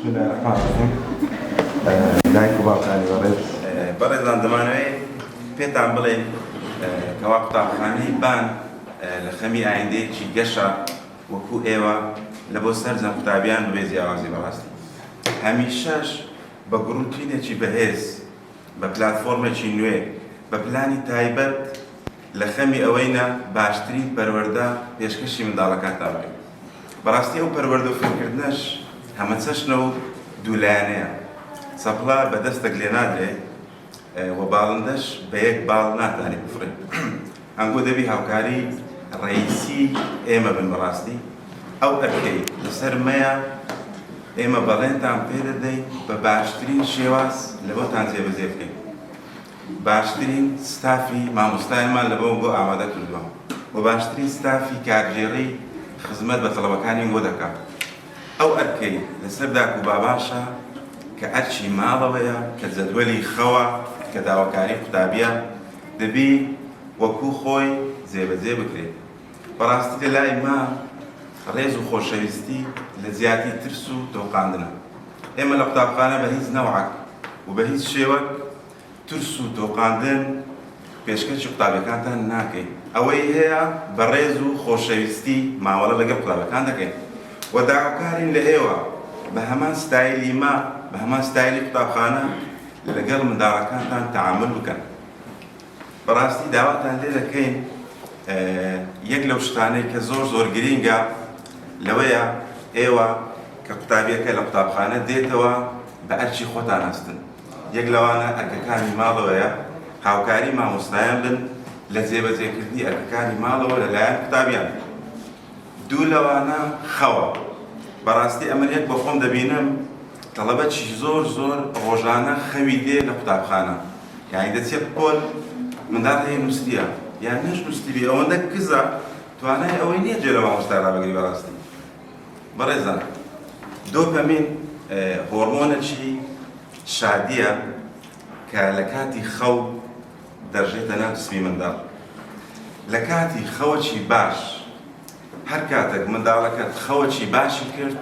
بسم الله الرحمن الرحیم دایک و باوکانی بەڕێز بەڕێزان دەمانەوەی پێتان بڵێن کەوا قوتابخانەی بان لە خەمی ئایندەیەکی گەشە وەکو ئێوە لە بۆ سەرجە قوتابیان بێ جیاوازی بەڕاستی هەمیشەش بە گروتینێکی بەهێز بە پلتفۆرمێکی نوێ بە پلانی تایبەت لە خەمی ئەوەینە باشترین پەروەەردە پێشکەشی منداڵەکان تابێت بەڕاستی ئەو پەروەردە و فێرکردنەش هەمەچەشنە و دوولایەنەیە، چەپڵە بە دەستەک لێ نادرێ و باڵندەش بە یەک باڵ ناتانی بفڕێ. ئەنگۆ دەبی هاوکاری ڕەییسی ئێمە بن بەڕاستی ئەو ئەرکەی لە سەر مەیە، ئێمە بەڵێنتان پێ دەدەین بە باشترین شێواز لەمەتان جێبەجێ بکەین. باشترین ستافی مامۆستایانمان لە بەوە گۆ ئامادە کردووە و باشترین ستافی کارگێڕی خزمەت بە تەڵەبەکانی وە دەکات. ئەو ئەرکەی لەسەر داک و بابانشە کە ئەرکی ماڵەوەیە، کە جەدوەلی خەوە، کە داواکاری قوتابیە، دەبی وەکوو خۆی جێبەجێ بکرێ. بەڕاستی لە لای مام ڕێز و خۆشەویستی لە جیاتی ترس و تۆقاندنە. ئێمە لە قوتابخانە بە هیچ نەوعەک و بە هیچ شێوەک ترس و تۆقاندن پێشکەشی قوتابیەکانتان ناکەین، ئەوەی هەیە بە ڕێز و خۆشەویستی مامەڵە لەگەڵ قوتابەکان دەکەین و داواکارین لە ئێوە بە هەمان ستایلی مە بە هەمان ستایلی قوتابخانە لەگەڵ منداڵەکانتان تەعامول بکەن. بەڕاستی داواتان لێ دەکەین یەک لەو شتانەی کە زۆر زۆر گرینگە لەوەیە ئێوە کە قوتابیەکە لە قوتابخانە دێتەوە بە ئەرچی خۆتان هەستن یەک لەوانە ئەرکەکانی ماڵەوەیە هاوکاری مامۆستایان بن لە جێبەجێکردنی ئەرکەکانی ماڵەوە لەلایەن قوتابیان دوو لەوانە خەوە بەڕاستی ئەمە یەک بە خۆم دەبینم تەڵەبەکی زۆر زۆر ڕۆژانە خەوی دێ لە قوتابخانە یانی دەچێ بقۆل مندال هەیە نوستیە یان نەش نوستیبی ئەوەندە کزە توانای ئەوەی نیە جێ لە مامۆستا رابگری بەڕاستی بەڕێزان دۆپەمین هۆڕمۆنەکی شادیە کە لە کاتی خەو دەژێتە ناو جسمی منداڵ لە کاتی خەوەکی باش هەر کاتێک منداڵەکەت خەوەکی باشی کرد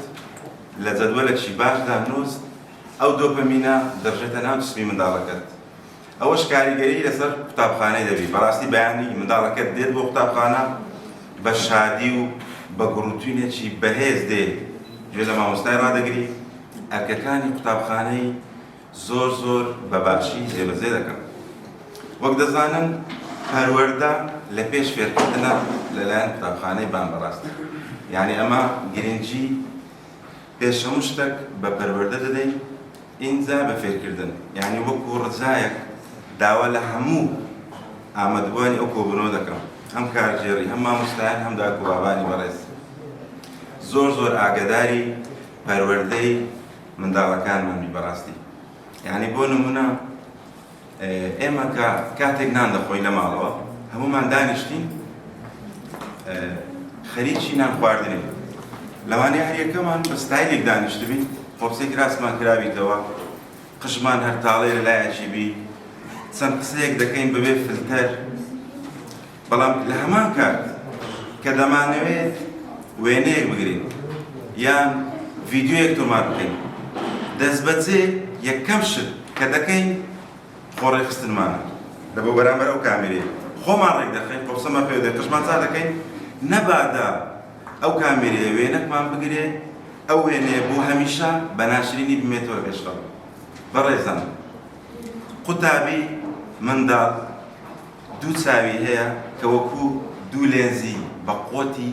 لە جەدوەلەکی باشدا نووست ئەو دۆپەمینە دەڕژێتە ناو جسمی منداڵەکەت ئەوەش کاریگەری لەسەر قوتابخانەی دەبی بەڕاستی بەیانی منداڵەکەت دێت بۆ قوتابخانە بە شادی و بە گوڕوتوینێکی بەهێز دێ گوێ لە مامۆستای ڕادەگری ئەرکەکانی قوتابخانەی زۆر زۆر بە باشی جێبەجێ دەکەم وەک دەزانن پەروەەردە لە پێش فێرکردنە لەلایەن قوتابخانەی بان بەڕاست یعنی ئەمە گرنگی پێش هەموو شتەک بە پەروەردە دەدەین ئینجا بە فێرکردن یانی وەکو ڕجایەک داوا لە هەموو ئامادەبووانی ئەو کۆبوونەوە دەکەم هەم کارگێڕی هەم مامۆستایان هەم داک و بابانی بەڕێز زۆر زۆر ئاگەداری پەروەردەی منداڵەکانمانی بەڕاستی یانی بۆ نمونە ئێمە کە کاتێک نان دەخۆین لە ماڵەوە هەموومان دانیشتین خەریکی نان خواردنین لەوانەیە هەریەکەمان بە ستایلێک دانیشتبین قۆپسێک راسمان کرابیتەوە قژمان هەر تاڵێ لە لایەکی بی چەند قسەیەک دەکەین بەبێ فلتەر بەڵام لە هەمان کات کە دەمانەوێت وێنەیەک بگرین یان ڤیددیوەک تۆمار بکەین دەست بەجێ یەکەم شت کە دەکەین خۆڕێخستنمانە لە بۆ بەرامبەر ئەو کامێرەیە خۆمان ڕێک دەخەین قۆسەمان پێ دێت قشمان چا دەکەین نەبادا ئەو کامێرەیە وێنەکمان بگرێ ئەو وێنەیە بۆ هەمیشە بە ناشرینی بمێتەوە پێشخەڵ بەڕێزان قوتابی منداڵ دوو چاوی هەیە کە وەکو دوو لێنزی بە قۆتی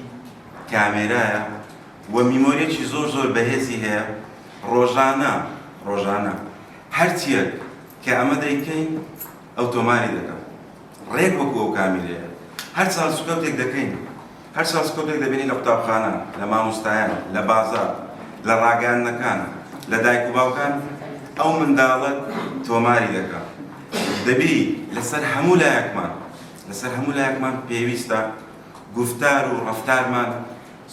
کامێرایە و میمۆریەکی زۆر زۆر بەهێزی هەیە ڕۆژانە ڕۆژانە هەرچیەک کە ئەمە دەیکەین ئەوتۆماری دەکەم ڕێک وەکو ئەو کامیرەیە هەرچەند سوکەوتێک دەکەین هەر چاوسکەوتێک دەبینی لە قوتابخانە، لە مامۆستایان، لە بازاڕ، لە ڕاگەیاندنەکان، لە دایک و باوکان ئەو منداڵەت تۆماری دەکا. دەبی لەسەر هەموو لایەکمان، لەسەر هەموو لایەکمان پێویستە گوفتار و ڕەفتارمان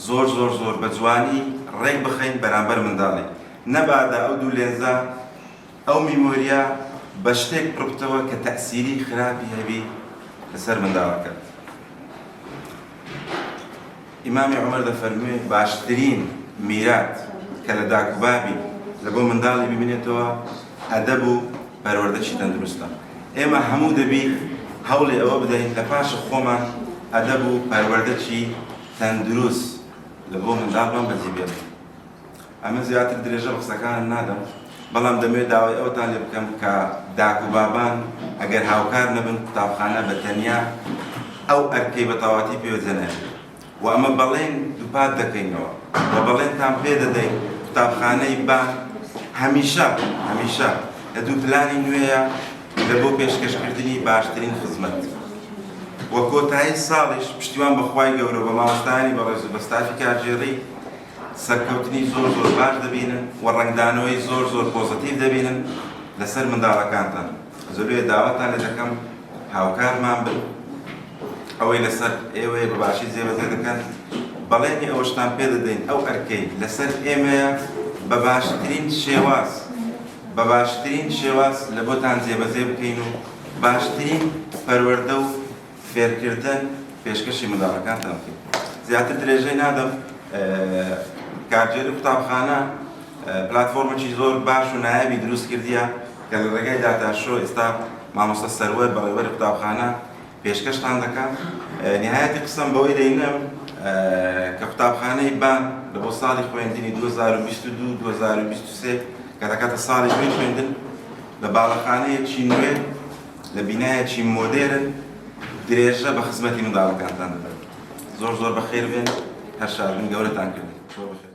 زۆر زۆر زۆر بە جوانی ڕێک بخەین بەرامبەر منداڵی. نەبادا ئەو دوو لێنزە ئەو میمۆریە بە شتێک پڕبتەوە کە تەئسیری خراپی هەبی لەسەر منداڵەکەت. ئیمامی عومەر دەفەرموێ، باشترین میرات کە لە داک و بابی لە بۆ منداڵی بمینێتەوە ئەدەب و پەروەردەشی تەندروستە. ئێمە هەموو دەبی هەوڵی ئەوە بدەین لە پاشە خۆمان ئەدەب و پەروەردەکی تەندروست لە بۆ منداڵمان بەدی بێنین. ئەمن زیاتر درێژە بە قسەکانم نادەم، بەڵام دەمەوێت داوای ئەوەتان لێ بکەم کە داک و بابان ئەگەر هاوکار نەبن قوتابخانە بە تەنیا ئەو ئەرکەی بە تەواتی پێوە جێناهێڵێت و ئەمە بەڵێن دووپات دەکەینەوە و بەڵێنتان پێ دەدەین قوتابخانەی بان هەمیشە هەمیشە لە دوو پلانی نوێیە لە بۆ پێشکەشکردنی باشترین خزمەت و کۆتایی ساڵیش پشتیوان بە خوای گەورە و بە مامۆستایانی بەڕێز و بە ستافی کارگێڕی سەرکەوتنی زۆر زۆر باش دەبینن و ڕەنگدانەوەی زۆر زۆر پۆزەتیڤ دەبینن لەسەر منداڵەکانتان زۆربێ داواتان لێ دەکەم هاوکارمان بن ئەوەی لەسەر ئێوەیە بە باشی جێبەجێ دەکەن بەڵێنی ئەوەشتان پێ دەدەین ئەو ئەرکەی لەسەر ئێمەیە بە باشترین شێواز بە باشترین شێواز لە بۆتان جێبەجێ بکەین و باشترین پەروەردە و فێرکردن پێشکەشی منداڵەکانتان بکەین زیاتر درێژەی نادەم کارگێری قوتابخانە پلاتفۆرمێکی زۆر باش و نایابی دروست کردیە کە لە ڕێگای داتاشۆ ئێستا مامۆستا سەروەر بەڕێوەری قوتابخانە پێشکەشتان دەکات نهایەتی قسەم بەوەی دەینم کە قوتابخانەی بان لە بۆ ساڵی خوێندنی 2022 2023 کە دەکاتە ساڵی نوێی خوێندن لە باڵەخانەیەکی نوێ لە بینایەکی مۆدێرن درێژە بە خزمەتی منداڵەکانتان دەدەن زۆر زۆر بەخێر بێن هەر شادبن گەورەتان کردن زۆر بەخێر